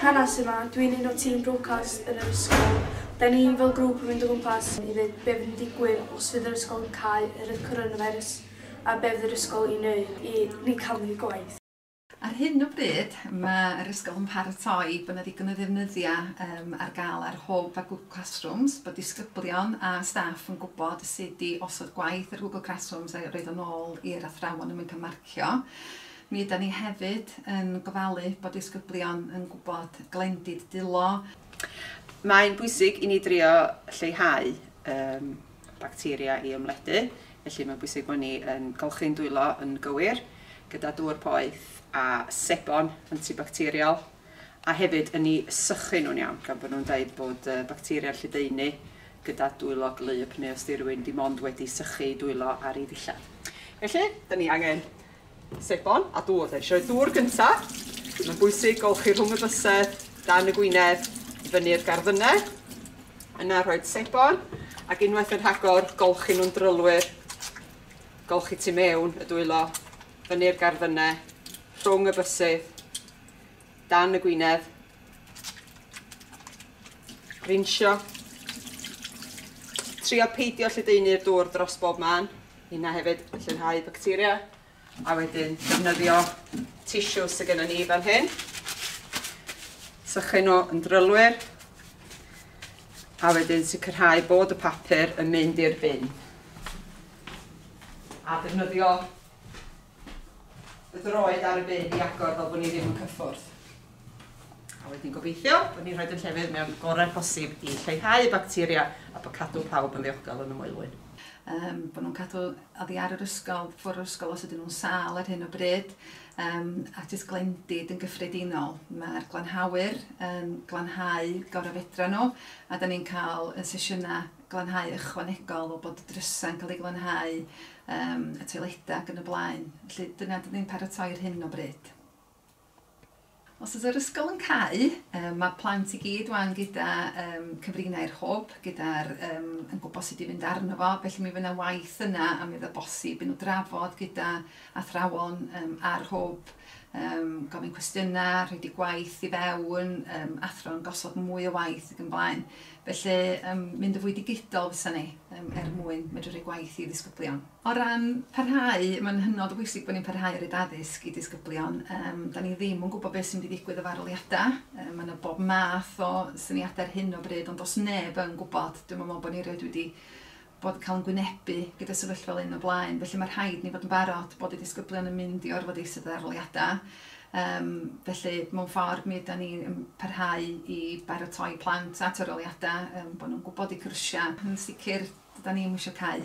Hanes yma, dwi'n un o tîm Broadcast yn yr ysgol. Da ni fel grŵp yn mynd o gwmpas i ddeud be fydd yn digwydd os fydd yr ysgol yn cau oherwydd coronavirus a be fydd yr ysgol i wneud i ni cadw'n gwaith. Ar hyn o bryd, mae yr ysgol yn paratoi bod 'na ddigon o ddefnyddiau yym ar gael ar Hwb a Google Classrooms, bod disgyblion a staff yn gwybod sut i osod gwaith ar Google Classrooms a roid o nôl i'r athrawon er mwyn cael marcio. Mi ydan ni hefyd yn gofalu bod disgyblion yn gwybod glendid dwylo. Mae'n bwysig i ni drio lleihau um, bacteria i ymledu, felly mae'n bwysig bod ni yn golchi'n dwylo yn gywir, gyda dŵr poeth a sebon antibacteriol, a hefyd yn ni sychu nhw'n iawn, gan bod nhw'n dweud bod uh, bacteria'r lledaenu gyda dwylo glyb neu os di rhywun dim ond wedi sychu dwylo ar ei ddillad. Felly, da ni angen Sebon a dŵr, da eisiau dŵr gynta. Mae'n bwysig golchi rhwng y bysedd, dan y gwynedd, i fyny'r garddynau. Yna rhoi sebon, ac unwaith yn rhagor, golchi nhw'n drylwyr. Golchi tu mewn y dwylo, fyny'r garddynau, rhwng y bysedd, dan y gwynedd. Rinsio. Trio peidio lledaenu'r dŵr dros bob man. Yna hefyd yn lleihau bacteria a wedyn defnyddio tisiws sydd gennym ni fan hyn. Sychu nhw yn drylwyr a wedyn sicrhau bod y papur yn mynd i'r bin. A defnyddio y droed ar y byd i agor fel bod ni ddim yn cyffwrdd. A wedyn gobeithio bod ni'n rhoi yn llefydd mewn gorau posib i lleihau bacteria a bod cadw pawb yn ddiogel yn y moelwyn. Um, bod nhw'n cadw oddi ar yr ysgol, ffwrdd yr ysgol os ydyn nhw'n sal ar hyn o bryd, um, a jyst glendid yn gyffredinol. Mae'r glanhawyr yn glanhau gorau fedra nhw, a da ni'n cael yn sesiynau glanhau ychwanegol o bod y drysau'n cael ei glanhau yym y toiledau ac yn y blaen. Felly dyna dyn ni'n paratoi ar hyn o bryd. Os ydy'r ysgol yn cau, um, mae plant i gyd wan gyda um, cyfrinau'r hwb, gyda'r um, yn gwybod sut i fynd arno fo, felly mi fyna waith yna a mi fydda bosib i nhw drafod gyda athrawon um, ar hwb, um, gofyn cwestiynau, rhaid i gwaith i fewn, um, athro'n gosod mwy o waith ac yn blaen. Felly, yym, mynd yn fwy digidol fysa ni, yym, er mwyn medru rhoi gwaith i ddisgyblion. O ran parhau, mae'n hynod o bwysig bod ni'n parhau i roid addysg i disgyblion. Yym, 'dan ni ddim yn gwybod beth sy'n mynd i ddigwydd efo arholiadau. Yy, ma' 'na bob math o syniadau ar hyn o bryd, ond does neb yn gwybod. Dwi'm yn meddwl bod ni erioed wedi bod cael yn gwynebu gyda sefyllfa fel hyn o blaen, felly mae rhaid ni fod yn barod bod y disgyblion yn mynd i orfod eistedd ar aroliadau. Um, felly, mewn ffordd, mi yda ni'n yn parhau i baratoi plant at aroliadau, um, bod nhw'n gwybod i cyrsiau. Yn sicr, dyda ni'n wisio cael.